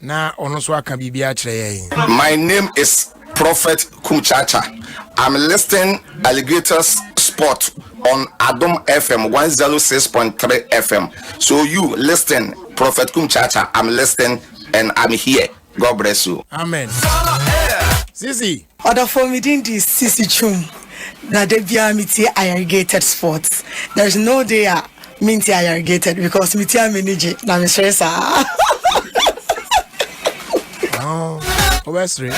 Na ɔno nso aka biribi akyerɛ yɛn. My name is prophet kumchacha I'm listing alligators spot on adom fm one zero oh six point three fm so you listing prophet kumchacha I'm listing and I'm here God bless you. Amen. Sisi. Ɔdɔfoɔ me din de Cissy Twum na da biara me tie ayɛrigated sport there is no day a me ntie ayɛrigated because me tie a m'ani gye na me sere saa. Ɔbɛsere.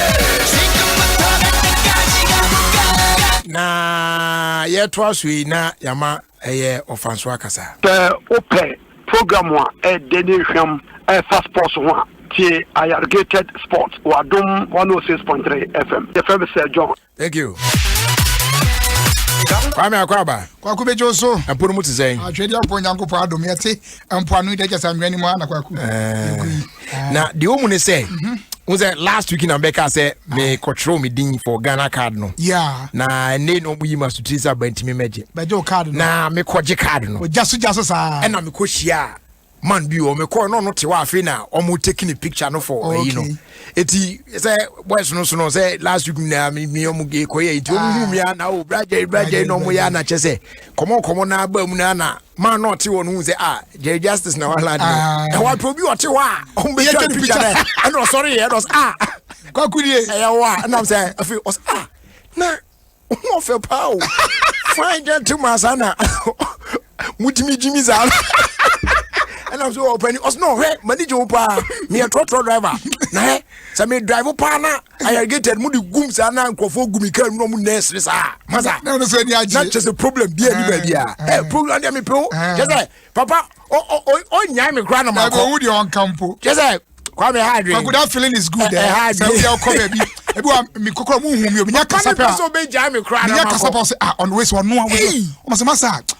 Na yɛtoa so yi na yɛama ɛyɛ ɔfansoɔ akasa. Sɛ wo pɛ program a ɛyɛ dɛ ne nhwam a ɛfa sports ho a, tie Ayargated Sports wɔ Adom 106.3 FM. Yɛfrɛ me Sir John. Thank you. Kwame Akwaba. Kwaku bɛgye so. Ɛpo no mu te sɛn? Atwedeɛ mpo Nyankopɔn adom yɛte mpoano dɛ kyɛ sɛ anwea nim ana kwaku eh. na deɛ ɔmu ne sɛ mhm. wo sɛ last week na bɛka sɛ mekɔtwerɛw me din for ghana card no yeah. na ɛne na ɔmuyi ma sotiri sɛ abantimi mɛgye bɛgye wo card no na mekɔgye card no ɔgya so gya so saa ɛna mekɔhyia man bi wɔ mekɔɔ na ɔno te hɔ afei na ɔmo take ne picture no for ɛyi no eti sɛ boys no so no sɛ last week na mi mi ɔmo ge kɔ yɛ eti ɔmo hu mi a na o bragye bragye na ɔmo yɛ anakyɛ sɛ kɔmɔ kɔmɔ na aba mu na na maa na ɔte hɔ no hu sɛ a ah, jerry justice na wala deɛ ah. na wapɛ obi ɔte hɔ a ɔmo bɛ twa picture dɛ ɛna ɔsɔre yɛ ɛna ɔsɛ a kwakurie ɛyɛ hɔ a ɛnam sɛ afi ɔsɛ a ah, na ɔmo ɔfɛ paa o fine gentleman saa na mo gyimi gyimi saa ɛnam sɛ ɔpɛni ɔsɛ na ɔhwɛ mani gye wo paa meyɛ trɔtrɔ driver na hɛ sɛ me drive paa na ayargated mu de gum saa na nkurɔfoɔ gu me kaa mu na ɔmo nɛɛse ne saa masa na ɔno sɛ ani agye na kyɛ sɛ problem bi ani baabi a ɛ program deɛ mepew kyɛ sɛ papa ɔnyae me koraa na makɔ ɛbɛwu deɛ ɔnka mpo kyɛ sɛ kwame ha adwene kwaku that feeling is good ɛ ha adwene sɛ wobia ɔkɔ baabi ebi wa mi kokora mu hu mi obi nya kasa pɛ a ɔbɛgyae me koraa na makɔ menya kasa pɛ ɔsɛ ah ɔno wei sɛ ɔno a wɔsɛ ɔmo sɛ masa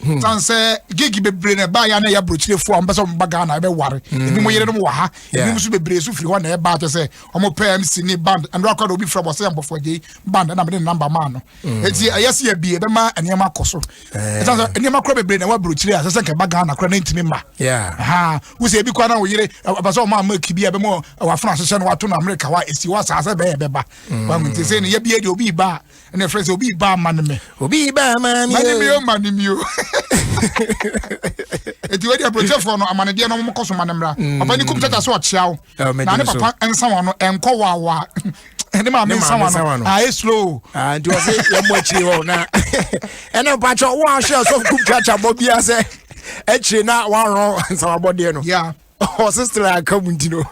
Hmm. san sɛ gig bebree na ɛbaa yɛ a na ɛyɛ aburokyirefo a wɔn pɛ sɛ wɔn ba ghana ɛbɛware hmm. ebi mo yere no mo wɔ ha ebi mo nso bebree so firi hɔ na ɛbaa kyɛ sɛ wɔn pɛ mc ne band ɛno akɔ na obi fira bɔ sɛ yɛn bɔfɔ gye band ɛna mo de ne namba maa no hmm. eti ɛyɛ si ɛbi ɛbɛma nneɛma akɔ so eh. ɛsan sɛ nneɛma kora bebree na ɛwɔ aburokyire a sɛsɛ nkɛba ghana kora na ntumi ma ha wosɛ ebi kora na wo yere ɛbɛ sɛ wɔn ama kibi ɛbɛ mo wafuna ahyehyɛ no wato na amerika wa esi wɔ asaase bɛyɛ bɛba wɔn ti sɛ ne yɛ bi yɛ de obi ba ɛna ɛfrɛ sɛ obi yi baa ma ne me obi yi baa ma ne ma ne me o ma ne me o eti wei deɛ aburokyɛfoɔ no amanedeɛ no wɔkɔ so ma ne mmra mm. papa ne kum tata so ɔkyea wo na ne papa nsa wɔn no ɛnkɔ wawa ne maame nsa wɔn no ayɛ slow ah, nti ɔse yɛmmɔ akyiri hɔ na ɛna mpakyɛ wo ahwɛ ɔsɔfo kum tata bɔ bia sɛ akyiri na wɔarɔ nsawabɔdeɛ no ɔse stra aka mu nti no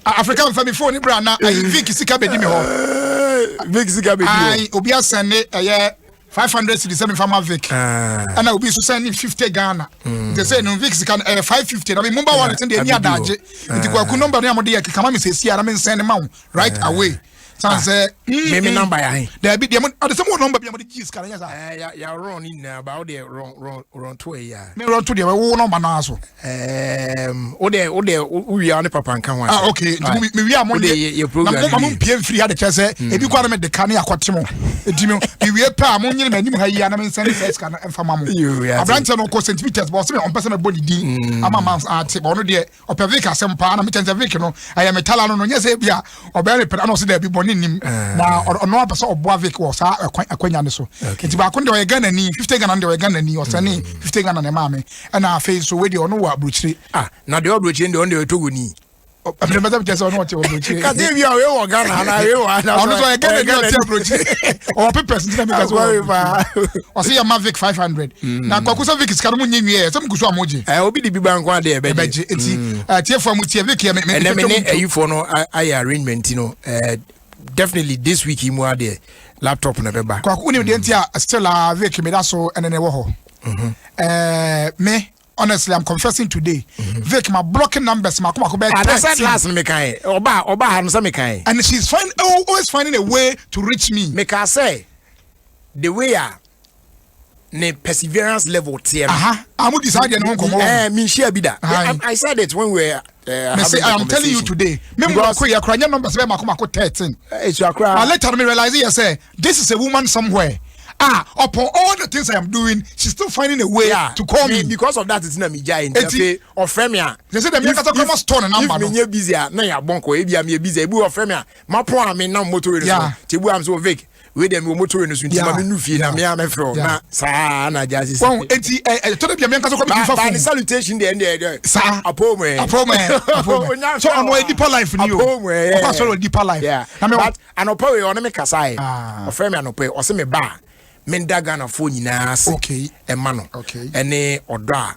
afrika mfa me phone bra na ayi vic sika bɛdi me hɔ vic sika bɛdi hɔ obi asɛn ne ɛyɛ five hundred cedis sɛ mefa ma vic ɛna ah. obi nso sɛ ne fifty ghana hmm. nti sɛ no vic sika no ɛyɛ five fifty na me mobile wallet no deɛ ɛni adagye nti kwaku nɔmba no a mode yɛ kekama me sɛsi a na mensɛn ne ma wo right ah. away san ah. sɛ mm, meme mm. namba yɛ ahe daabi deɛ ɔde sɛ mowɔ nɔmba bi a mode gyee sika no nyɛ saa eh, yɛworɔ no nyinaa ba wode rɔnto ɛyɛ a me rɔnto deɛ wo nɔmba no ara so wode wode wowia wo ne papa nka ho ah, ok nti mewia mo ndeɛma mompie mfiri ha de kyɛ sɛ mm. ebi kora no mede ka ne akɔte mo ɛti no mewie pɛ a monyene m'anim ha yia na mensɛne sɛ sika no mfa ma mo aberantɛ no kɔ st peters bɔ sɛ me ɔmpɛ sɛ mɛbɔ ne din ama ma ate bɔ ɔno deɛ ɔpɛ vik asɛm paa na mekyɛn sɛ vik no ɛyɛ metala no no nyɛ sɛ bi a ɔbɛyɛ repɛ ana ɔsɛ daabi bɔne nim eh. na ɔno apɛ sɛ ɔboa vik wɔ saa akwanya no so nti baako deɛ ɔyɛ ghanani 50 ghana no deɛ ɔyɛ ghanani ɔsɛne mm. 50 ghana ne maa me ɛna afei nso wei deɛ ɔno wɔ aburokyire ah, na deɛ ɔburokyire deɛ ɔno deɛ ɔtɔ goni ɛfiri mɛsɛ mekyɛ sɛ ɔne ɔte ɔbrɔkyire kase bi a ɔyɛ wɔ ghana ana ɔyɛ wɔ ana ɔno sɛ ɔyɛ ghana ni ɔte ɔbrɔkyire ɔwɔ papers ntina meka sɛ ɔwɔ ɔse yɛ mavic 500 Mm. na kɔkɔ sɛ vic sika no mu nye nwie sɛ mugu so a mo gye. ɛ eh, obi de bi ba nko ade ɛbɛgye. ɛbɛgye nti mm. eh, tiefo a mo tie vic yɛ me me ɛnɛ me ne ayifo no ayɛ arrangement no ɛ eh, definitely this week yi mu adeɛ laptop na ɛbɛba. kɔkɔ wuli deɛ nti a still a vic mi da so ɛnɛ ne wɔ hɔ. ɛɛ mhm. eh, me honestly i'm confessing today mm-hmm. vic my blocking numbers my kuma kubẹ thirteen anasa last mi kan ye ọba ọba hanusa mi kan ye and she's find, always finding a way to reach me. mi ka sẹ the way a. Uh, ne perseverance level teɛ no. aha a mo di saa deɛ ne ho nkɔmɔ wɔ. ɛɛ mi nhyia bi da. I, I said it when we were uh, having the conversation. I am telling you today. Me mu ko yɛ kura nye numbers bɛ mako mako thirteen. Esu akura. But later me realize yɛ sɛ this is a woman somewhere. Ah, upon all the things I am doing, she's still finding a way yeah, to call me. Because of that, it's not me jai. Eti, or fremia. They say the me kata kama store na number. If me busy, na ya bonko. Ebi am busy. Ebu or fremia. Ma po am na motor. Yeah. Tebu am so Vic. wei deɛ mewɔ moto wei no so nti ma mennu fie na mea mɛfrɛ wo na saa na agya sisi wɔn enti ɛtɔ da bia meɛnka sɛ kɔmedi fa fone salutation deɛ ɛndeɛ ɛdɛ saa apom ɛ apom ɛ apom ɛ so ɔno ɛ deeper life ni o apom ɛ ɔkɔ asɔre wɔ deeper life na mɛ but anɔpɛ wei ɔne me kasa ɛ ah. ɔfrɛ me anɔpɛ ɔse me ba menda ghanafoɔ nyinaa ase ɛma no ɛne ɔdɔ a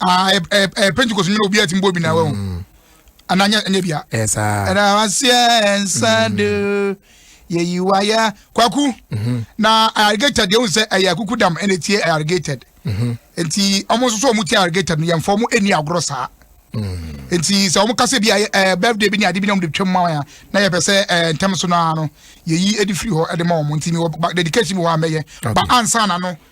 Ah, eh, eh, eh, Pentecost nyina obi atim bɔ bi na wahu. Mm. Ana nyɛ nyɛ bia. Ɛsa. Ɛna waseɛ ɛnsa mm. de yɛyi wayɛ kwaku. Mm-hmm. Na irrigated yɛhu sɛ ɛyɛ akuku dam ɛna etie irrigated. Mm-hmm. Nti ɔmo nso so ɔmo tie irrigated no yɛn fɔ ɔmo ɛni agorɔ saa. Mm. Nti sɛ ɔmo kasa bi ayɛ ɛɛ birthday bi ni ade bi na ɔmo de twɛm ma wɔn ya na yɛ pɛ sɛ ɛɛ ntɛm so naa no yɛyi ɛde firi hɔ ɛde ma ɔmo nti mi wɔ dedication bi wɔ amɛyɛ ba ansa na no.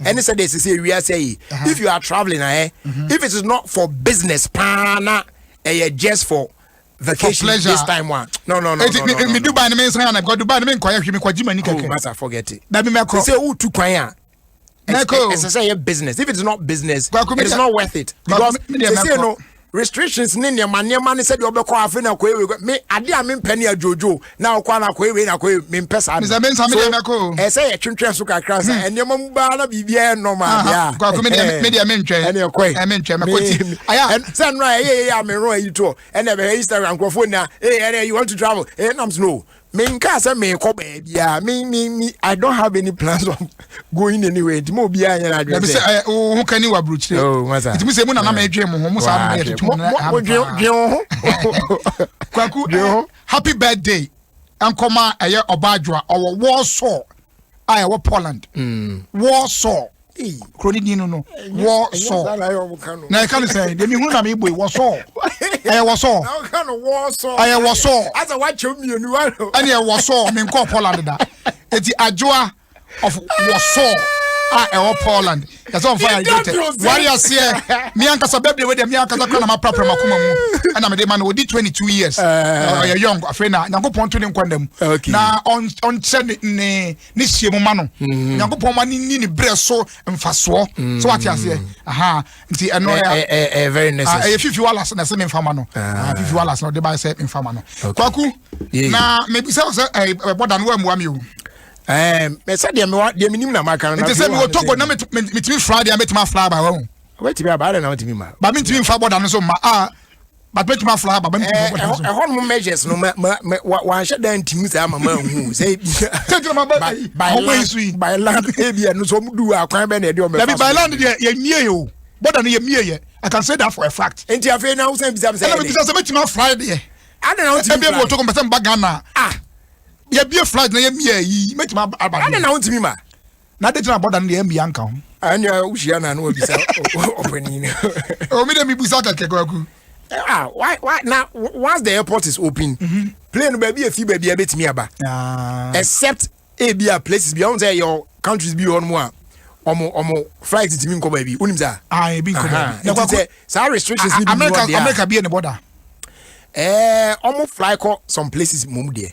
ɛne sɛ deɛ ɛsɛ sɛ wiase yi if you are traveling ahɛ eh, mm-hmm. if it is not for business paa na ɛyɛ just for vacation for this time one. No, no, no. Eti mi mi Dubai ni mi nsɛn yana because Dubai ni mi nkɔyɛ hwi mi kɔ jima ni kɛkɛ. Oh, masa forget it. Dabi mɛ kɔ. Sɛ o tu kwan ya. Mɛ kɔ. Ɛsɛ sɛ yɛ business if it is not business it is not worth it because sɛ sɛ no. restrictions ne nneɛma nneɛma ne sɛdeɛ ɔbɛkɔ afei na akɔyɛ wei me ade a mempɛ ne adwoodwo na ɔkɔ na akɔyɛ wei na akɔyɛ mempɛ saa no so ɛsɛ yɛ twentwɛn so kakra sɛ hmm. nneɛma mu baa na biribiara nnɔm adeɛ a ɛne ɛkɔe sɛ nnora ɛyɛ yɛ a mero ayi toɔ ɛna ɛbɛhɛ instagram nkurɔfoɔ nyinaa ɛna you want to travel ɛnam sɛ no menkaa sɛ meekɔ baabiaa me me me i don't have any plans of going anywhere nti ma obiaa nyɛ no adwene sɛ eh, wo ho ka ni waburokyire oh, nti mesɛ mu nana ma ɛdwen mo ho mo saa mma yɛtoto mo dwen wo ho kwaku eh, happy birthday nkɔma ɛyɛ ɔba adwoa ɔwɔ warsaw a ɛwɔ poland mm. warsaw kuro ne din no no wɔsɔ na ɛka no sɛ deɛ mehunu na mebɔ yi wɔsɔ ɛyɛ wɔsɔ ɛyɛ wɔsɔ ɛneɛ wɔsɔ menkɔɔ poland da ɛti adwoa of wɔsɔ a ɛwɔ poland yɛsɛ ɔmfa hydrated ware aseɛ me ankasa bɛbrɛ wei deɛ me ankasa kora na maprapra makoma mu ɛna mede ma no ɔdi 22 years ɔyɛ young afei na nyankopɔn to ne nkwa nna mu na ɔnkyɛ ne ne hyia mu ma no mm-hmm. onyankopɔn ma ne ni ne berɛ so mfasoɔ mm-hmm. so wate aseɛ aha nti ɛno ɛyɛ eh, eh, eh, ah, fifi walas na ɛsɛ memfa ma no ah. Ah, fifi walas na ɔde baɛ sɛ memfa ma no kwaku na mebisa wo sɛ ɛbɔda no woammua me o sɛ deɛ mewa deɛ menim na maka no nti sɛ mewɔ togo na metumi fra deɛ mɛtumi afra aba wa ho wobɛtumi aba adɛ na wotumi ma ba mentumi mfa bɔda no so ma a but bɛtumi afra ha baba ɛhɔ nom measures no wanhyɛ da ntimi saa mama hu sɛ by land ebia no sɛ ɔmdu a kwan bɛ na ɛde ɔmɛfa by land deɛ yɛmie o bɔda no yɛmie yɛ I can say that for a fact nti afei na wosan bisa sɛ ɛna mebisa sɛ mɛtumi afra deɛ adana wotumi fly ɛbia bi wɔtɔ kɔ mpɛsɛ mba Ghana ah yɛbie flight na yɛmie yi mɛtumi aba ɛna na wotumi ma na de gyina bɔda no deɛ ɛmbi anka ho. ɛnea wohyia no a na wabisa ɔpanin no. omi de mibusa kɛkɛ kwaku. ah why why na once the airport is open. Mm -hmm. plane baabi efi baabi ebetumi aba. Ah. except ebi a places bi ɔn sɛ yɛ countries bi hɔ nom a ɔmo ɔmo flight tìmi nkɔ baabi onim sa. ah ebi nkɔ baabi. ɛti sɛ saa restrictions ni bi mu ɔdi a. america america bi yɛ ne bɔda. ɛɛ ɔmo fly kɔ some places mu deɛ.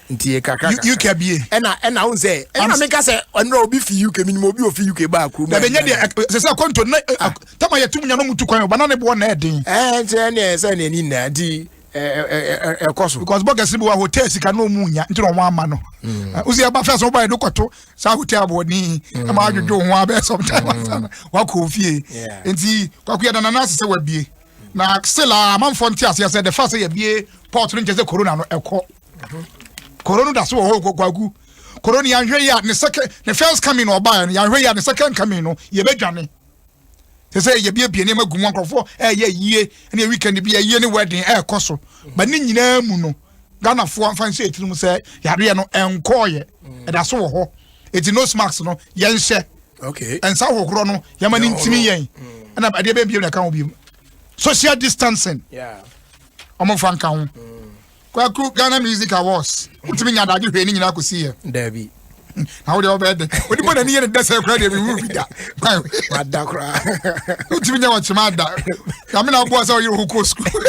ntie kakra kakra uk abie ɛna ɛna wo sɛ ɛna meka sɛ ɛnura obi fi uk minim obi ofi uk baa kurom na bɛnyɛ deɛ sɛ sɛ kɔnto na ah. tama yɛ tum nyano mutu kwan ɔbana ne boɔ na ɛden ɛɛ nti ɛne ɛsɛ ne ani nyinaa nti ɛkɔ so because bɔkɛse bi wɔ hotel sika na ɔmu nya nti na ɔmo ama no wosi ɛba fɛ sɛ ɔba ɛde kɔto saa hotel aboɔden ɛma adwodwo ho abɛɛ sometime asa no wakɔ ofie nti kwako yɛ danana ase sɛ wabie na still a amanfoɔ nte aseɛ sɛ de fa sɛ yɛbie port no nkyɛ sɛ corona no ɛkɔ koro no da so wɔ hɔ kwaku koro no yɛanhwɛ yi a ne second ne first coming na ɔbaeɛ no yɛanhwɛ yi a ne second coming no yɛbɛdwane sɛ sɛ yɛbiebie nneɛma gu mu nkurɔfoɔ ɛyɛ yie ne weekend bi ɛyie ne wedding ɛrekɔ so ba ne nyinaa mu no ghanafoɔ mfa nhyɛ ɛtiri mu sɛ yareɛ no ɛnkɔɔyɛ ɛda so wɔ hɔ ɛti nose mask no yɛnhyɛ ɛnsa hohorɔ no yɛma no ntimi yɛn ɛna ɛdeɛ bɛbie na ɛka ho biom social distancing ɔmomfa nka ho mm. Kwaku Ghana Music Awards wotumi nya adagye hwee ne nyinaa kɔsi yɛ daabi na wode wobɛyɛ dɛ ɔde bɔ n'ani yɛ ne dɛsɛ koraa deɛ mewu bi da wada koraa wotumi nya wɔkyema ada nyame na woboa sɛ woyere ho kɔɔ sukuu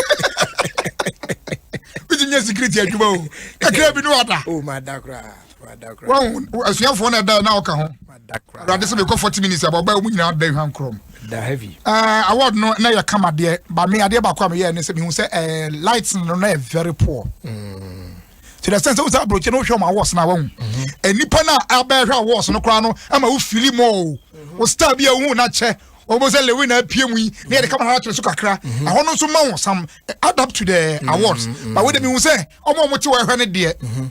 wotumi nya security adwuma o kakra bi ne wada oh, wɔn asuafoɔ na ɛda na ɔka ho awurade sɛ mekɔ forty minutes abɔ ɔbaa wɔn nyinaa da hwan korom ɛɛ award no na yɛ kama deɛ ba mi adeɛ baako a mi yɛ ne sɛ mi hu sɛ ɛɛ light no na yɛ very poor. Mm. to the extent sɛ wosan aburokyi no wohwɛ ɔmo awards na wɔn nipa na abɛɛhwɛ awards no koraa no ama wo fili mu o wo star bi a wohu na kyɛ wɔn sɛ lewi na apue mu yi ne yɛde kama n'akyerɛ so kakra mhm. ɛhɔ no nso ma wɔn sam adapt to the mhm. awards ba wo de mi hu sɛ ɔmo a wɔn ti wɔ ɛhwɛ ne deɛ. Mhm.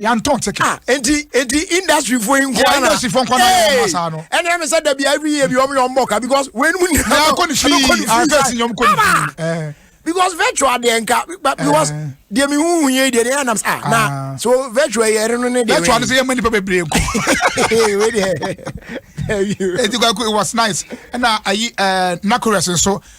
yɛntɔn ticket. Ah, enti enti industry fo yi nkɔ ana industry fo nkɔ na yɛ ɔma saa no ɛne ɛmi sɛ dabi every year bi ɔmo yɛ ɔmo ka because wei nimu ni ɛna kɔ ni fii afɛ si nyɔm kɔ ni fii because virtual deɛ nka because deɛ mi hu hu yɛ deɛ deɛ ɛnam ah na ah. so virtual yɛ ɛreno ne deɛ virtual no sɛ yɛ mɛ nipa bebree nkɔ eti kɔ it was nice ɛna ayi ɛɛ nakorɛs nso.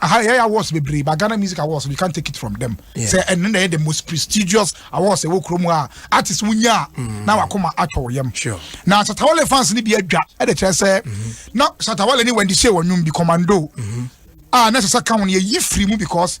aha yɛyɛ awards bebree ba ghana music awards we can take it from them sɛ ɛno na ɛyɛ the most prestigious awards ɛwɔ kurom a artist wonya a mm. na wakoma atɔ wo yam na satawale fans no bi adwa ɛde kyerɛ sɛ mm-hmm. na satawale ne wendy shea wɔnwom bi commando mm-hmm. a na ɛsɛ sɛ ka ho no yɛyi firi mu because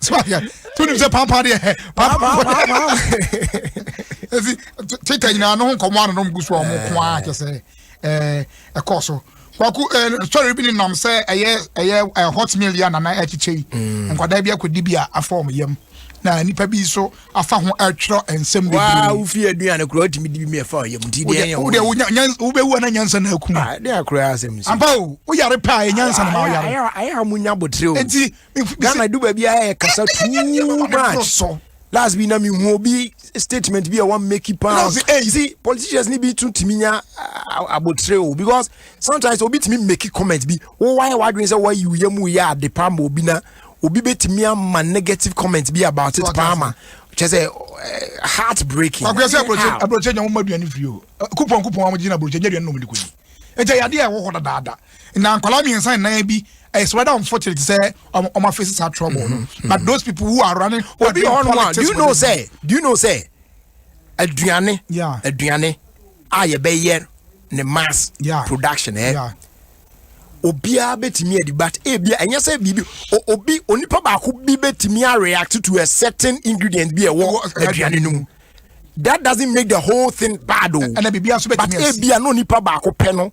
so ahwɛ to nim sɛ pampa deɛ hɛ pampa ɛsi twitter nyinaa no ho nkɔmmɔ ano nom gu so a ɔmo ko ara kyɛ sɛ ɛɛ ɛkɔ so kwaku ɛɛ sɔre bi ne nam sɛ ɛyɛ ɛyɛ ɛɛ hot meal yɛ nana ɛkyekyɛ yi mm. nkwadaa bi akɔdi bi a afa ɔmo yam na nipa bi nso afa ho ɛtwerɛ nsɛm bebree waa wofi aduane kura ɔtumi di bi mi ɛfa ɔyam ti deɛ yɛn wɔ wobɛwu ana nyansa na akum a ɛde akora asɛm nso ampa o woyare paa yɛ nyansa na ma woyare ayɛ a mo nya botere o nti ghana du baabi a yɛ kasa too much last bi na mi hu obi statement bi a wan make it pound you see politicians ni bi tun timi nya abotire o because sometimes obi timi make it comment bi wo wa yɛ wadwin sɛ wayi yɛ mu yɛ ade pa ma obi na obi bɛ timi ama negative comment bi about it pa ma kyɛ sɛ heart breaking. akuyɛ sɛ aburokye aburokye nya wɔn ma aduane firi o kupɔn kupɔn wɔn gyina aburokye nya aduane na wɔn de kɔ yi ɛkyɛ yadeɛ a ɛwɔ hɔ dadaada. na nkwadaa mmiɛnsa ne nan bi it's rather unfortunate sɛ ɔmo ɔmo afeesi saa trouble no mm-hmm. but those people who are running who are doing politics do you know sɛ do you know sɛ aduane aduane a yɛbɛyɛ ne mass production ɛ eh? obiara bɛtumi adi but ebi eh, ɛnyɛ sɛ biribi obi onipa baako bi bɛtumi a react to a certain ingredient bi ɛwɔ aduane no mu that doesn't make the whole thing bad o oh. but ebi a eh, no nipa baako pɛ no.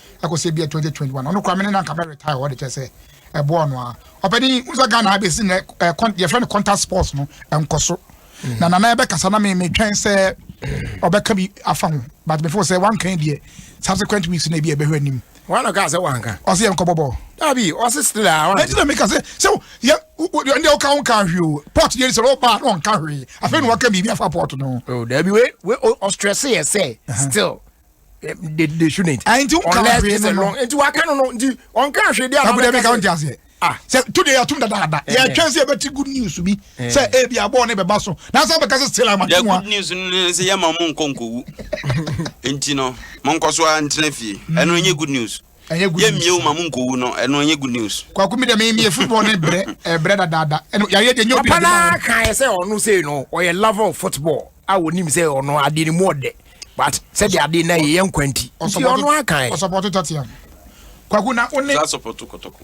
ɛkɔsɛ bia 2021 ɔno kora mene na nka mɛ retire hɔ de kyɛ sɛ ɛboɔ no a ɔpɛni wo sɛ Ghana abɛsi nɛ yɛfrɛ no contact sports no ɛnkɔ so mm. na nana ɛbɛkasa na metwɛn sɛ ɔbɛka bi afa ho but mefo sɛ wanka deɛ subsequent weeks na ebi ɛbɛhwɛ anim wọn kọ ase wọn kan. ọsẹ yẹn kọbọ bọ. dabi ọsẹ still a wọn. ẹtí na mi ka sẹ sẹ yẹ ndé ọkà wọn kà hwi o pọt yẹn sẹ ọba náà wọn kà hwi afẹ ni wọn kà bìbí afa pọt nù. o dabi we we ọstrẹsẹ yẹ sẹ still. Eh, they, they shouldn't. Ah, nti nka unless it's a long nti waka no no nti ɔnka ahwɛ di ababa kasa ɛbi ka ɔnti ah sɛ tu de yɛtum dadaada eh, yɛtwɛn eh. sɛ yɛbɛti good news bi sɛ ebi abɔɔ ne bɛba so na sɛ bɛka sɛ still ama tuma good news no ne sɛ yɛma mo nkɔ nkɔwu nti no monkɔ so ara ntena fie ɛno nyɛ good news ɛnyɛ good news. yɛ mie wo ma mo nkɔ wu no ɛno ɛnyɛ good news. kwaku mi dɛ mi mi yɛ football ne brɛ ɛbrɛ dadaada ɛnu yareɛ deɛ nyɛ obi na de ma wɔn. papa naa kan yɛ sɛ ɔno sɛ no ɔyɛ lover of football a onim sɛ ɔno adeɛ ne mu ɔdɛ but sɛ de adeɛ na yɛ yɛ nkwa nti nti ɔno akan. ɔsɔpɔtɔ tɔtiam kwaku na ɔne. ɔsɔpɔtɔ kɔtɔkɔ.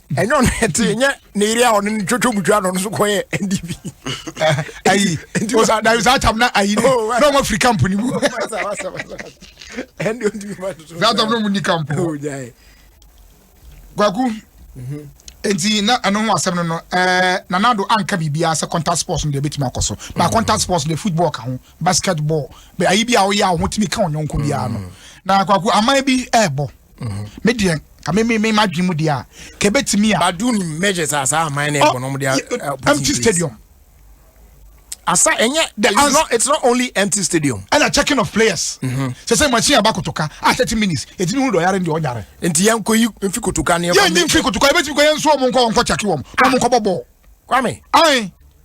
ɛnyɛ ɔno ɛte ɛnyɛ ne yere a ɔno ne twotwo butwa no ɔno so kɔyɛ ndp ayi osa na osa atam na ayi ne oh, na ɔmo afiri kampo ne mu ɛnde ɔntumi ma toto na atam na ɔmo ni kampo oh, kwaku mhm. nti na ɛno ho asɛm no no ɛɛ nanado anka biribiara sɛ contact sports no deɛ ebetumi akɔ so na mhm. contact sports deɛ football ka ho basketball bɛ ayi bi a ɔyɛ a ɔmo tumi ka ɔnyɔnko biara no mhm. na kwaku aman bi ɛɛbɔ. Mm-hmm. me deɛ ka me me ma dwen mu deɛ a ka ebetumi a. badu ni measures a saa aman na ɛbɔ na wɔn de a. empty stadium. asa ɛnyɛ the it's not it's not only empty stadium. ɛna checking of players. Mm-hmm. sɛ sɛ machine aba kotoka a ah, thirty minutes eti mi hu dɔ yare ndi ɔnyare. nti yɛn ko yi nfi kotoka ni. yɛn ni nfi kotoka ebetumi ko yɛn nso wɔn nkɔ wɔn nkɔ kyaki wɔn wɔn nkɔ bɔ bɔɔl. kwame. ayi.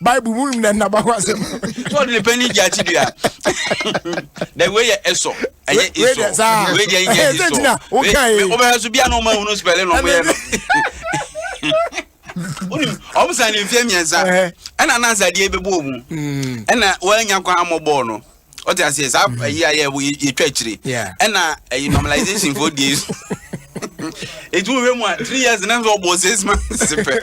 bible mu na nnaba ho asɛm sɛ ɔde ne pani gye akyi dua na wei yɛ ɛsɔ ɛyɛ ɛsɔ wei deɛ nyɛ ɛsɔ wobɛhwɛ so bia na ɔma hunu spɛle na ɔmoyɛ no ɔm sa ne mfeɛ mmiɛnsa ɛna nansadeɛ bɛbɔɔ mu ɛna woanya kwan ammɔ bɔɔl no ɔte aseɛ saa mm-hmm. ayi ayɛ yɛtwa akyire ɛna ɛyi normalization fo die so ɛti wohwɛ mu a three years na sɛ ɔbɔ six months pɛ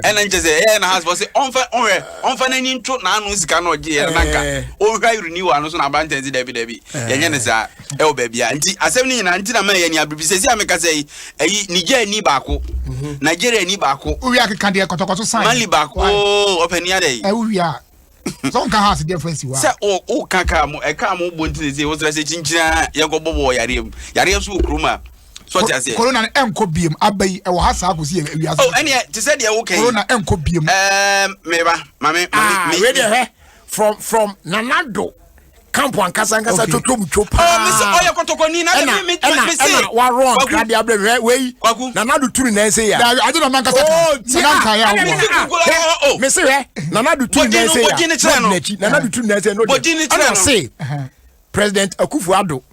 ɛna nkyɛ sɛ ɛyɛ na has fɔ sɛ ɔmfa ɔhwɛ ɔmfa n'ani nto n'ano sika no ɔgye yɛ nanka eh. ɔhwɛ renewal no so na abantɛn si dabi dabi eh. yɛnyɛ ne saa ɛwɔ baabi a nti asɛm no nyinaa nti na ma yɛ ni abiribi sɛ si a meka sɛ yi ɛyi niger ni baako mhm. nigeria ni baako. wia keka deɛ kɔtɔkɔtɔ sign mali baako ɔpɛ ni adɛ yi. ɛwia. sɛ ɔnka house deɛ fɛn si hɔ a. sɛ o o ka kaa mo ɛkaa mo bɔ ntini se o sɛ sɛ kyinkyina yɛn kɔ bɔ bɔ yareɛ mu yareɛ so wɔ kurom a sɔte aseɛ. corona no ɛnkɔ biem aba yi ɛwɔ ha saa kò si yɛ wiase. o ɛni ɛ te sɛ deɛ o kɛn. corona ɛnkɔ biem. ɛɛ mɛba maame maame. ah wei deɛ hɛ from from nanado. camp ankasa ankasa totom two paa mesi ɔyɛ kɔtɔkɔni na ɛna ɛna ɛna warɔ nkra de abirɛ hwɛ wei na nadu turu na ɛsɛ ya dabi adi na nankasa kan ti a hwɛ mesi hwɛ na nadu turu na ɛsɛ ya n'odi n'akyi na nadu turu na ɛsɛ n'odi ɛna se president akufo ado.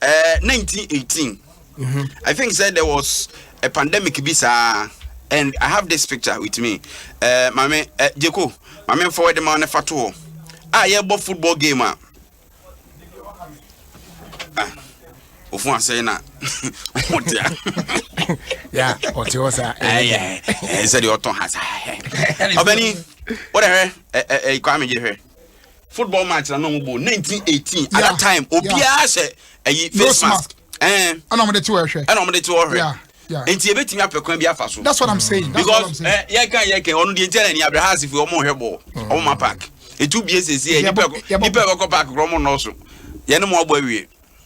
Eh, 1918. Mm -hmm. I think said there was a pandemic bisa and I have this picture with me. Eh, mame eh, Jeko, mame forward ma ne fato. Ah, yeah, but football game ah. Ah. Ofun asɛe na ɔte a. Ya, ɔte hɔ saa. Ɛyɛ, ɛyɛ sɛ deɛ ɔtɔn ha saa. Ɔbɛni, wodɛ hwɛ, ɛɛ, ɛɛ, kwame gye hwɛ. football match na na wɔn bɔ nineteen eighteen at that time obiara hyɛ ɛyi face mask ɛn ɛna wɔn de ti wɔ ɛhwɛ ɛna wɔn de ti wɔ ɛhwɛ nti ebi tumi apɛ kwan bi afa so that's what i'm saying that's what i'm saying because yɛ kan yɛ kan ɔno deɛ nkyɛn na ni abirahã asefo wɔn hwɛ bɔɔl wɔn ma park etu bie sese yɛ nipa nipa ɛbɛkɔ park korɔ wɔn nɔɔso yɛn ne mo abɔ awie.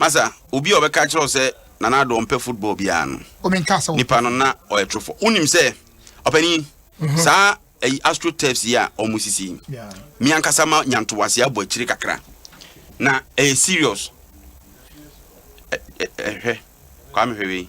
Masa, obi a ɔbɛka akyerɛ wo sɛ Nana Addo ɔmpɛ football biara no, nipa no na ɔyɛ torofo. Wonim sɛ, ɔpanin, saa ayi Astro Turfs yi a wɔsisi yi, me ankasa ma nya ntoboase abɔ akyire kakra. Na ɛyɛ serious. Ɛ, ɛ, ɛ, hwɛ, Kwame hwɛ wei.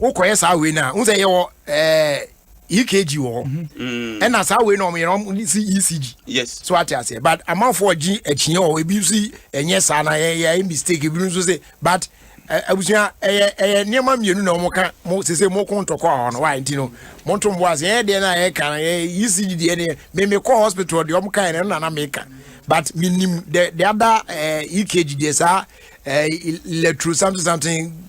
wokɔyɛ saa wei no a wohu sɛ yɛwɔ eh, ekg wɔ hɔ mm-hmm. ɛna saa wei no ɔmyerɛ ɔm si ecg yes. so ate aseɛ but amanfoɔ gye akyiɛ wɔ ebi nso ɛnyɛ saa na yɛyɛ mistake ebi nso se but eh, abusua ɛyɛ ɛyɛ nneɛma mmienu na wɔn ka mo sese mo ko ntɔkɔ a ɔno wa nti no mo nto mo bo ase ɛyɛ deɛ na ɛyɛ kan ɛyɛ ecg deɛ ne mɛmɛ kɔ hospital deɛ wɔn kan ɛno na na mɛ ka but mi nim the the other ɛɛ eh, ekg deɛ saa ɛɛ eh, electro something something.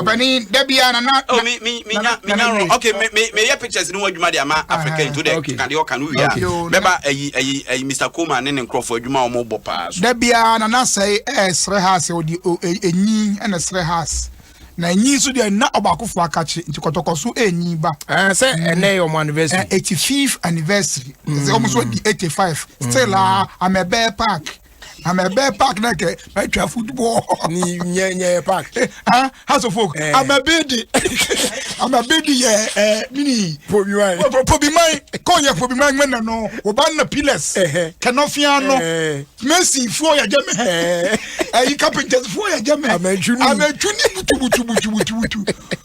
ɔbɛni dabi a nana. ɔ oh, mi mi mi nya mi nya rɔ ok mi mi mi yɛ pictures ni wɔn adwuma de ama africa yi to dɛ kika de ɔka no wia bɛba ɛyi ɛyi ɛyi mr koma ne ne nkurɔfoɔ adwuma wɔn bɔ paa so. dabi a nana sɛɛ ɛɛ srɛ ha sɛ ɔdi enyi ɛna srɛ ha na enyi nso deɛ na ɔbaako fo akakye nti kɔtɔkɔ so enyi ba. ɛɛ sɛ ɛnɛ yɛ ɔmo anniversary. eighty fifth anniversary. ɛsɛ ɔmo nso di eighty five still aa amɛbɛɛ park. na mɛ bɛ park na kɛ mɛ twa football. ni nyɛ nyɛ yɛ park. Eh, ah house of folk. Eh. ama bi di ama bi di yɛ ɛ eh, mini. pobi man. pobi man kò yɛ pobi man mɛ nanu o ba na pillars. Eh, eh. kɛnɛ fia nɔ. mɛsi fo yɛ jɛ mɛ. ɛyi carpenters fo yɛ jɛ mɛ. amɛtuni amɛtuni butu butu butu butu butu.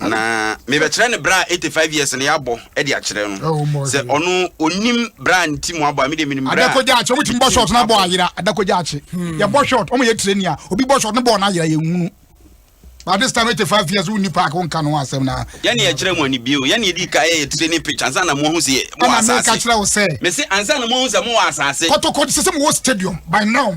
na mebɛkyerɛ no berɛ a 85 years no yɛabɔ de akyerɛ no sɛ ɔno ɔnim berɛ a ne ti mu abɔ a mede menim berɛ adakɔgya akye ɔmotumi bɔ short no abɔ ayera adakɔgya akye hmm. yɛbɔ short ɔmo yɛ trani a obi bɔ short no bɔɔ no ayera yɛnwunu but this time 85 years wonni park wonka no ho asɛm na yɛne yɛkyerɛ mu anibie o yɛne yɛdi ka yɛyɛ trani pitch ansa na moahu sɛ mowɔ asase meka kyerɛ wo sɛ mese ansa na moahu sɛ mowɔ asase kɔtɔkɔ sɛ sɛ mowɔ stadium by now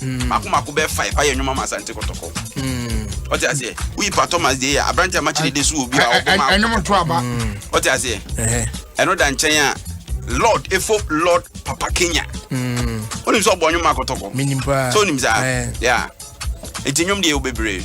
mako mako bɛɛ five ayɛ nnwuma ma asante kɔtɔkɔ ɔte aseɛ woyi pa thomas deɛ yɛ aberante ama kyerɛ de so wɔ bi a ɔbɔ ma ɛnwom to aba ɔte aseɛ ɛno da nkyɛn a lord efo lord papa kenya wonim sɛ ɔbɔ nnwom ma kɔtɔkɔ sɛ wonim saa ya ɛti nnwom deɛ yɛ wo bebree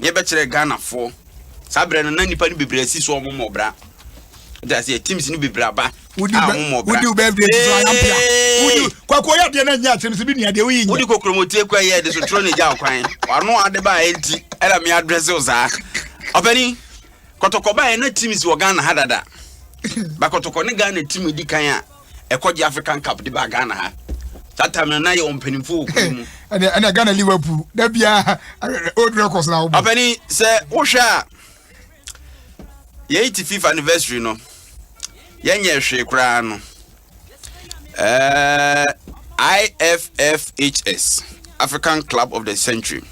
ne yɛbɛkyerɛ Ghanafoɔ saa berɛ no na nipa no bebree asi so ɔmo mmɔ bra nti aseɛ teams no bebree aba a ɔmo mmɔ bra wodi birthday ti so ayampia wodi kwako yɛ adeɛ na nyɛ asɛm sɛ bi nua deɛ woyi nyɛ wodi kokoromotie kɔ yɛ de so turo ne gya ɔkwan ɔno ade ba a ɛnti ɛna me adrɛse wo saa ɔpɛni kɔtɔkɔ ba yɛ na teams wɔ Ghana ha dada ba kɔtɔkɔ ne Ghana team di kan a ɛkɔ gye african cup de ba ghana ha that time no na yɛ ɔmpanimfoɔ wɔ kuro mu ɛnna ɛnna ghana liverpool da bia old records na wobɔ ɔpɛni sɛ wohwɛ a yɛyi ti fifa anniversary no yɛnyɛ hwee koraa no ɛɛ IFFHS African Club of the Century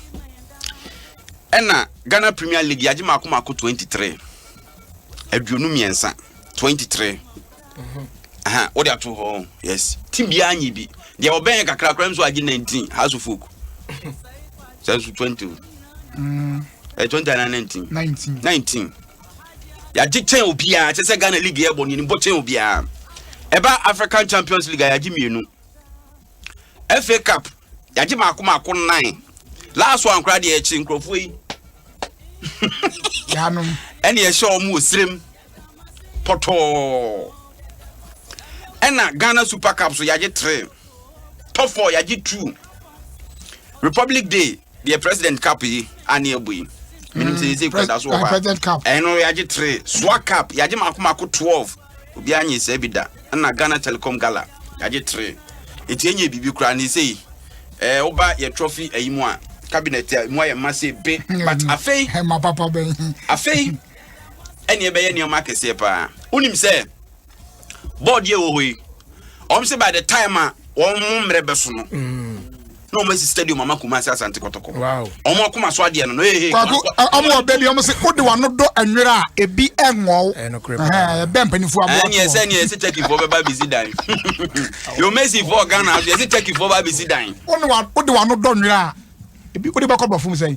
ɛna Ghana Premier League yagye mako mako 23 aduonu mmiɛnsa 23 aha wode ato hɔ yes ti biara nye bi deɛ ɔbɛn yɛ kakra koraa nso agye 19 house of folk sɛ nso 20 o ɛ 20 ana 19 19 19 yɛagye kyɛn obiara kyɛ sɛ ghana league yɛ bɔ nyanibɔ kyɛn obiara ɛba african champions league a yɛagye mmienu fa cup yɛagye maako maako nnan last one koraa deɛ ɛkye nkurɔfoɔ yi ɛne ɛhyɛ ɔmo wɔ serem pɔtɔɔ ɛna ghana super cup so yɛagye three top four yɛagye two republic day deɛ president cup yi ane abu yi menim sɛ yɛsɛ kura da so wɔ hɔ a ɛno yɛagye three soa cup yɛagye maako maako twelve obiara nye sɛ bi da ɛna ghana telecom gala yɛagye three ɛti ɛnyɛ biribi koraa ne sei ɛɛ eh, woba yɛ trophy ayi mu a cabinet a mu ayɛ ma se be but afei afei ɛne ɛbɛyɛ nneɛma akɛseɛ paa wonim sɛ bɔɔd yɛ wɔ hɔ yi wɔn sɛ by the time a wɔn mo mmerɛ bɛ so no na wɔn asi stadium ama kuma ase asante kɔtɔkɔ wɔn akoma so adeɛ no no ee kwaku wɔn wɔ baabi wɔn sɛ wode wɔn ano dɔ nwera a ebi ɛnwɔw ɛbɛn mpanimfoɔ aboɔ ɛni ɛsɛ ni ɛsɛ turkey fo bɛba abisi dan yɛ wɔn esi fo ghana ɛsɛ turkey fo ba abisi dan wode wɔn ano dɔ nwera a ebi wode bɛkɔ bɔ fom sɛn.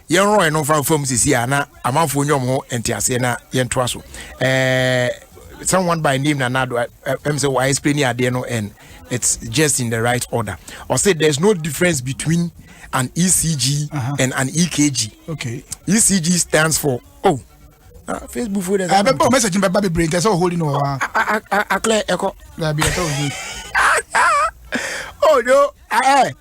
yɛnrɔe no mfa mfa mu sisi a na amanfoɔ nyɛ wɔn ho nteaseɛ na yɛntoa so ɛɛ someone by name nanado ɛm sɛ wɔayɛ spray ne adeɛ no and it's just in the right order or say there's no difference between an ecg uh -huh. and an ekg okay ecg stands for oh uh, facebook fo dɛ sɛ ɛbɛ bɔ message bɛ ba bebree ntɛ sɛ ɔhori no wɔ hɔ a aklɛ ɛkɔ dabi ɛsɛ ɔhori oh no ɛɛ.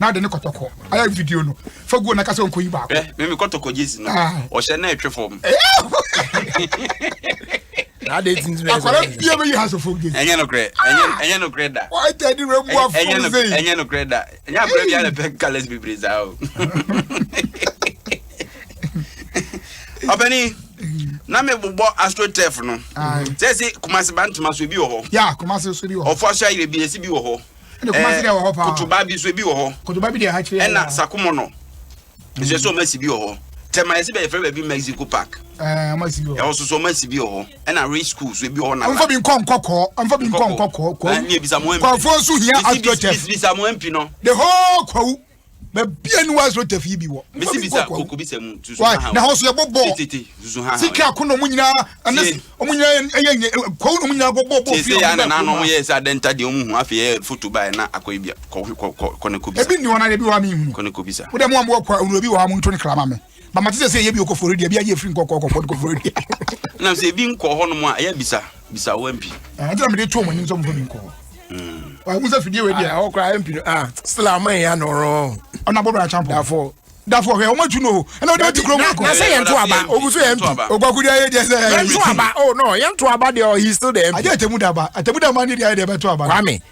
na ade ne kɔtɔkɔ ayɛ video no fa guo na kasa nkoyi baako. ɛ mimi kɔtɔkɔ gyesi no ah. ɔhyɛ na ɛtwe fam. akwara bia bɛyi ha sɔfo gyesi. ɛnyɛ nokorɛ ɛnyɛ nokorɛ da. ɔtɛ de rɛ mu afɔ sɛ. ɛnyɛ nokorɛ da ɛnyɛ abirɛ bi alɛ pɛ kalɛs bebree saa o. ɔpɛni na me bobɔ astrotef no sɛ se kumase ba ntoma so bi wɔ hɔ. ya kumase so bi wɔ hɔ. ɔfɔ aso ayire bi esi bi wɔ hɔ. Ɛɛ Kotoba bi nso ebi wɔ hɔ. Ɛna Sakumono nso ɛsɛ ɔmo asi bi wɔ hɔ. Tɛma yɛsi bɛ yɛfrɛ baabi Mexico Park. Ɛhɔ soso ɔmo asi bi wɔ hɔ. Ɛna Ray School so ebi wɔ hɔ na. Ɔnfɔ bi nkɔ nkɔkɔɔ. Ɔnfɔ bi nkɔ nkɔkɔɔ. Kwawu. Ɛni ebisa mo MP. Kwawu nso hia astroturf. Bisa mo MP no. The whole Kwawu. baabi a niwa azoro tafi bi wɔ. mesi bisa koko bisa mu tusu ha ha. na hɔ so yɛ bɔ bɔɔl tete tusu ha ha. sika ako na wɔn nyinaa ɛne wɔn nyinaa ɛyɛ nyɛ kɔw na wɔn nyinaa bɔ bɔɔl bɔɔl fi wɔn nyinaa kɔn mu. wɔn yɛ sɛ adɛnta deɛ wɔn hu afei yɛ foto ba yɛ na akɔ ebi kɔ kɔ kɔ ne ko bisa. ebi ni wɔn na ebi wɔ ha mi hu. kɔ ne ko bisa. wodɛ mu a mo wɔ kɔ awuro bi wɔ ha mo nto ne kra ma mi. Ba mate sɛ sɛ ɛyɛ bi okɔ Florida bi ayɛ firi nkɔkɔ kɔ kɔ Florida. Na sɛ ebi nkɔ hɔ nom a ɛyɛ bisa bisa wɔ mpi. Ah nti na mede to mo anim sɛ mo fa bi nkɔ. Mm. Wa mo sɛ fidie wɔ dia. Ah okra mpi no ah still ama ya no ro. Ona bobra champo. Dafo. Dafo hwe omo tu no. Ɛna odi odi kro mo ko. Na sɛ yɛn to aba. Ogu so yɛn mpi. Ogwaku dia yɛ dia sɛ. Yɛn to aba. Oh no, yɛn to aba dia he still the mpi. Aje atemu daba. Atemu daba ni dia yɛ dia bɛ to aba. Kwame.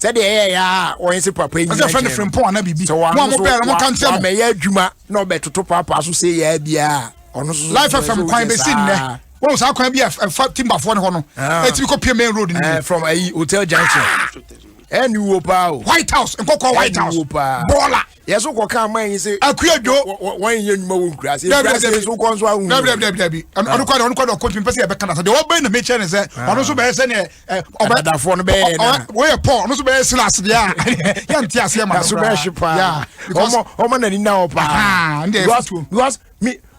sɛdeɛ ɛyɛ ya a wɔn se papa yi nyina gyina no sɛ wɔn ano so wɔamɛyɛ adwuma na ɔbɛtoto paapaa so sɛ yɛ biara ɔno so life fm kwan bɛsi nnɛ wọn saa kwan bi a ɛfa timbafoɔ ne hɔ no ɛtumi kɔ pie main road ne from ayi hotel junction ɛni wo paa o white house nkɔkɔ white house bɔɔla yɛ so kɔ kan man yi se. akuya dwo wɔn yɛ nnwuma wɔ nkura se nkura se so kɔ nso ahu. dabi dabi dabi dabi ɔno kɔ de ɔno kɔ de ɔkɔ tumi pɛ sɛ yɛbɛka na sɛ deɛ ɔbɛn na mekyerɛ ne sɛ ɔno nso bɛyɛ sɛ neɛ ɔbɛ ɛdadafoɔ no bɛyɛ yɛ nana wɔyɛ pɔl ɔno nso bɛyɛ silas deɛ a yɛ nte aseɛ ma no koraa ɛso bɛyɛ hye paa ɔmo ɔmo na ni na hɔ paa because because mi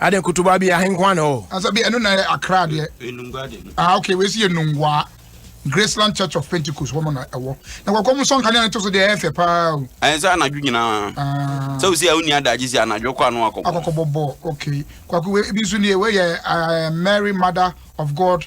Ade kutuba bi ahe nkwa na ɛwɔ hɔ? Asa bi ɛno na yɛ Accra deɛ. Enungwa de. Ah okay wei si yɛ Nungwa. Graceland Church of Pentecost wɔn na ɛwɔ. Na kɔkɔ mu sɔn kanea ne to so deɛ ɛyɛ fɛ paa o. Ɛyɛ sɛ anadwo nyinaa. Ah. Sɛ osi a wonni adagye si anadwo kɔ ano akɔbɔ. Akɔkɔbɔ bɔ okay. Kwaku wei bi nso nie wei yɛ eh, Mary Mother of God.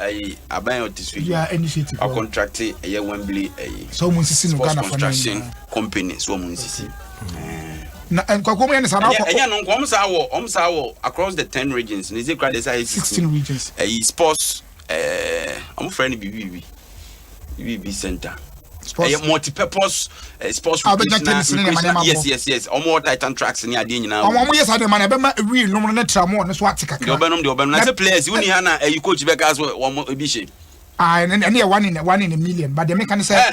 Ayi aban a ɔte so yi ɔkɔntrakte ɛyɛ Wembley ayi sports construction company so wɔn nsisi. na nkwakuo mu yɛ ne saa n'akɔ. ɛnyɛ no nkɔm saa wɔ ɔm saa wɔ across the ten regions ne zekura de saa yɛ sixteen regions ɛyi sports ɛɛ ɔmo fɛ no biribi biribi. BB Center. Sports. Ɛyɛ multi-purpose uh, sports ah, recreation na recreation yes yes yes. Wɔn wɔ titan tracks ni adeɛ nyinaa. Wɔn wɔn yɛ saa de ma na ɛbɛ ma wheel nom ne tra mu ne so ate kakra. Deɛ ɔbɛnom deɛ ɔbɛnom na sɛ players wuni ha na ɛyi coach bɛ ka so wɔn ebi hyɛ. Ah ɛne ɛne yɛ one in one in a million but deɛ mi ka ne sɛ. Eh.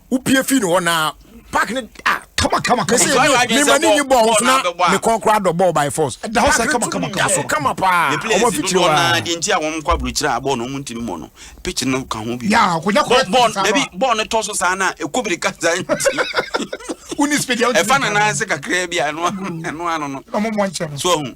wopie fii ne hɔ na park ne ah kama kama kama ne ma ne nyi bɔɔl ho so na ne kɔn kora dɔ bɔɔl by force ɛda hɔ sɛ kama kama kama so kama paa ɔmo afitiri hɔ naa deɛ nti a wɔn kɔ aburukyerɛ a bɔɔl no ɔmo ntumi mɔ no pitch no ka ho bi yaa akonya kora bɔɔl dabi bɔɔl no tɔ so saa na ɛkɔ biri kasa nti woni speed ɛfa na nan ase kakra bi a ɛno ano no ɔmo mɔ nkyɛn so ɔmo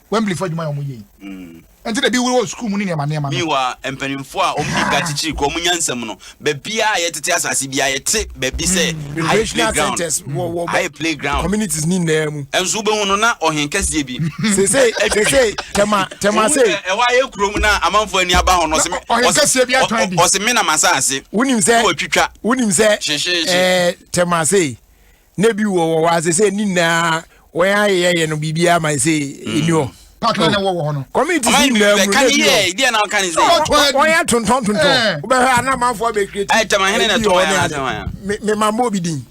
Wembley fo adwuma yɛ wɔn yie yi ɛnti na ebi wuro wɔ sukuu mu ne nneɛma nneɛma no. miwa mpanimfoɔ a wɔn nika kyikyiri kɔ wɔn nyansam no baabi a yɛtete asase bi a yɛte baabi sɛ hmm. ayɛ playground hmm. ayɛ playground communities ni nyinaa mu ɛnso bɛhu no na ɔhen kɛseɛ bi sese sese tɛma tɛma se ɛwɔ ayɛ kurom na amanfoɔ ani aba ho no ɔsɛ ɔhen kɛseɛ bi atwan bi ɔsɛ mi na ma sa ase wonim sɛ wɔtwitwa wonim sɛ ɛɛ tɛma se na ebi wɔ wɔ ase sɛ ne nyinaa wɔn ayɛyɛ no biribiara ma sɛ ɛni hɔ pakra na ɛwɔ wɔ hɔ no community si nyinaa mu na ebi wɔ wɔn yɛ tontɔn tontɔn wobɛhwɛ anamanfoɔ abɛkiri ti ebi wɔ ne ade me ma mbɔ obi din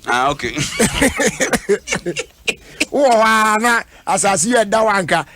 wowɔ hɔ a na asase yɛ da wanka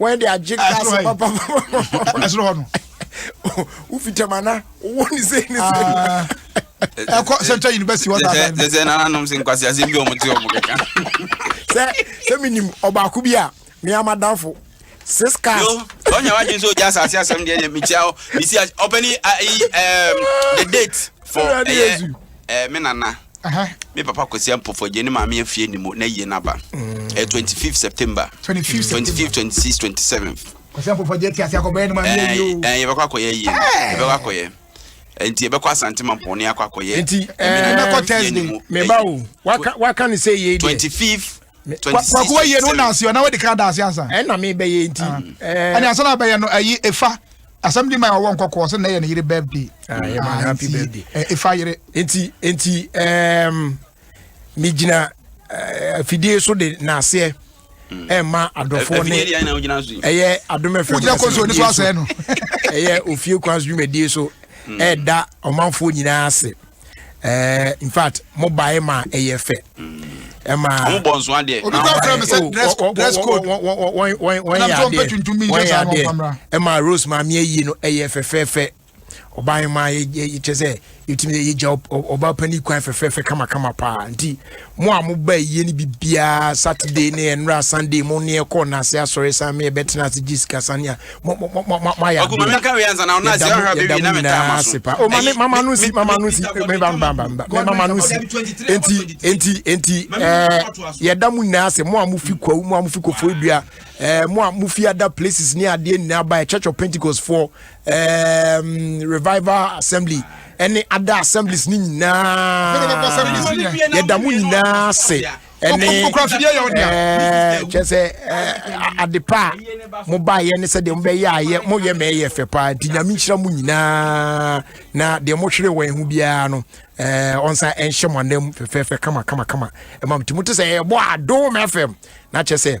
wɔn de agye kaase papapapa ɛsoro hɔ no wofi tɛmana wowɔ ne sɛ ne sɛ ah. ɛkɔ central university wɔ saa sɛ sɛ nananom sɛ nkwasi asɛm bi ɔmo te ɔmo kɛka sɛ sɛ menim ɔbaako bi a me amadamfo six cars. yo ɔnyɛ wa gye nso gya asase asɛm deɛ yɛ mekyia hɔ mesi ɔpɛni ayi the date for ɛyɛ Eh me nana Aha. me papa Kwesi Ampofo gye ne maame afie anim o, na yie no aba. Eh 25 September. 25 September. 25, 26, 27th. Kwasi Ampofo agye te ase akɔbɔ yɛ ne maame Eh, ayie o. eh, yɛbɛkɔ akɔyɛ ayie no. Eh. Yɛbɛkɔ akɔyɛ. Eh, Nti yɛbɛkɔ Asante Mampɔn ne akɔ akɔyɛ. Nti, eh, me nana Mɛkɔ fie Thursday. anim o, Me ba eh, o. Waka waka ne sɛ yei deɛ. 25 kwaku wa yie no na ase ɔna wadi kan da ase ansa. ɛna mi bɛ yɛ nti. ɛni asa na bɛ yɛ no ɛyi efa asɛm di ma yɛ ɔwɔ nkɔkɔɔ sɛ na yɛ ne yere birthday. Ah, yɛ ma ah, happy birthday. efa yere. nti nti ɛɛm mi gyina fidie so de na aseɛ ɛma adɔfoɔ ne ɛyɛ adomɛfɛ wogyina kɔnso ne so asɛɛ no ɛyɛ ofie kwan so dwumadie so ɛda ɔmanfoɔ nyinaa ase ɛɛ in fact mo ba yɛ ma ɛyɛ fɛ ɛma ɔmo bɔ nso adeɛ obi kɔ fira mi sɛ dress dress code wɔn wɔn wɔn yɛ adeɛ wɔn yɛ adeɛ ɛma rose maame yɛ yie no ɛyɛ fɛfɛɛfɛ ɔbaa yɛ ma yɛ yɛ kyɛ sɛ yɛtumi yɛ gya ɔbaa panyin kwan fɛfɛɛfɛ kamakama paa nti mo a mo ba yie no biribiara saturday ne ɛnura sunday mo ne ɛkɔ n'ase asɔre san mi ɛbɛtena ase gye sika san ya mo mo mo mo mo ayɛ adeɛ yɛda mo nyinaa ase pa o maame mama no si mama no si meba mba mba mba mama no si enti enti enti ɛɛ yɛda mo nyinaa ase mo a mo fi kwawu mo a mo fi kofo dua ɛɛ mo a mo fi ada places ne adeɛ nyinaa ba yɛ church of pentecost foɔ um, revival assembly ɛne ada assemblies ne nyinaa yɛda mo nyinaa se ɛne eh, kyɛ sɛ eh, adepa a mobaeɛ ne sɛ deɛ mobɛyɛ ayɛ moyɛ ma ɛyɛ fɛ paa nti nyame nhyira mo nyinaa na deɛ mohwere wɔn ho biara no eh, ɔnsa ɛnhyɛ mo anam fɛfɛɛfɛ kama kama kama ɛma mti mote sɛ ɛbɔ adom fm na kyɛ sɛ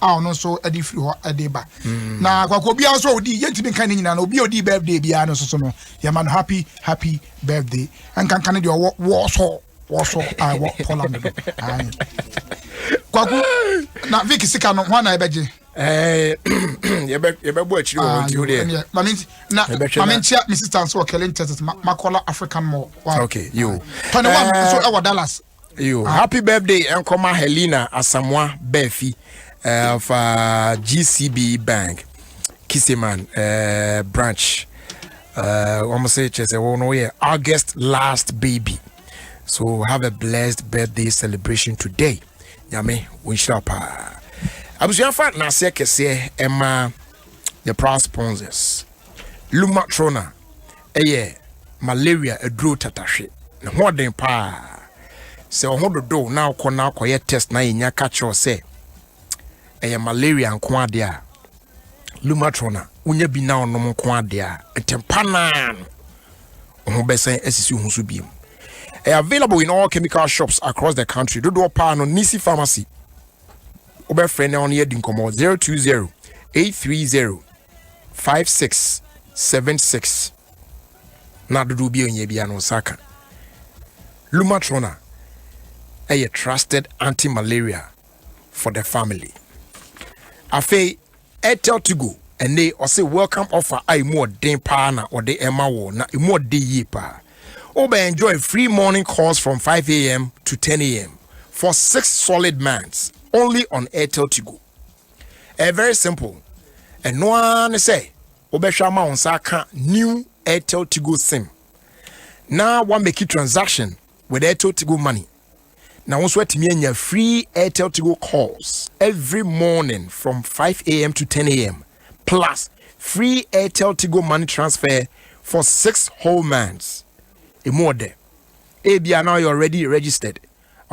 a ɔno nso de firi hɔ de ba hmm. na kwakɔ obiara nso ɔdi yɛntumi nka ne nyinaa na obi a ɔdi birthday biara no soso no yɛma no happy happy birthday nkanka ne deɛ ɔwɔ wɔsɔ wɔsɔ a ɛwɔ poland no kwako na vic sika no ho ana ɛbɛgye eh, yɛbɛbɔ akyiri wɔ ah, nti wo deɛ mame nkyia me sister nso wɔ kɛlen texas makɔla african mall okay, yo. tɔne wa eh, nso ɛwɔ dallas Yo, happy birthday nkɔma Helena Asamoah Bafi uh, of uh, GCB Bank, Kiseman uh, branch. Uh, wɔn sɛ kyerɛ sɛ wɔn no yɛ August last baby. So have a blessed birthday celebration today. Nyame wɔnhyira paa. Abusuafa na aseɛ kɛseɛ ɛma the proud sponsors. Luma Trona. Ɛyɛ malaria aduro tatahwe. Ne ho ɔden paa. Sɛ wo ho dodo wo na wokɔ na wokɔyɛ test na yɛnya ka kyerɛ wo sɛ ɛyɛ malaria nko adeɛ a, Lumatrol a wonya bi na wonom nko adeɛ a, ntɛmpa no ara no, wo ho bɛsan asisi wo ho so biom. Ɛyɛ available in all chemical shops across the country. Dodoɔ paa no, Nisi Pharmacy. Wobɛfrɛ na ɔne yɛadi nkɔmmɔ 020 830 Five six seven six na dodoɔ bi a ɔnyɛ biara no nsa ka lumatrona ɛyɛ trusted anti malaria for the family afei airtel tigo ɛnne ɔse welcome offer a emu ɔden paa na ɔde ɛma wɔ na emu ɔden yie paa wobɛ enjoy free morning calls from 5am to 10am for six solid months only on airtel tigo ɛyɛ very simple ɛno ara ne sɛ wobɛhwɛ ama wo nsa aka new airtel tigo sim na woamaki transaction with airtel tigo money na wo nso atumi anya free airtel tigo calls every morning from 5am to 10am plus free airtel tigo money transfer for six whole months ɛmu ɔdɛ ebia now you're already registered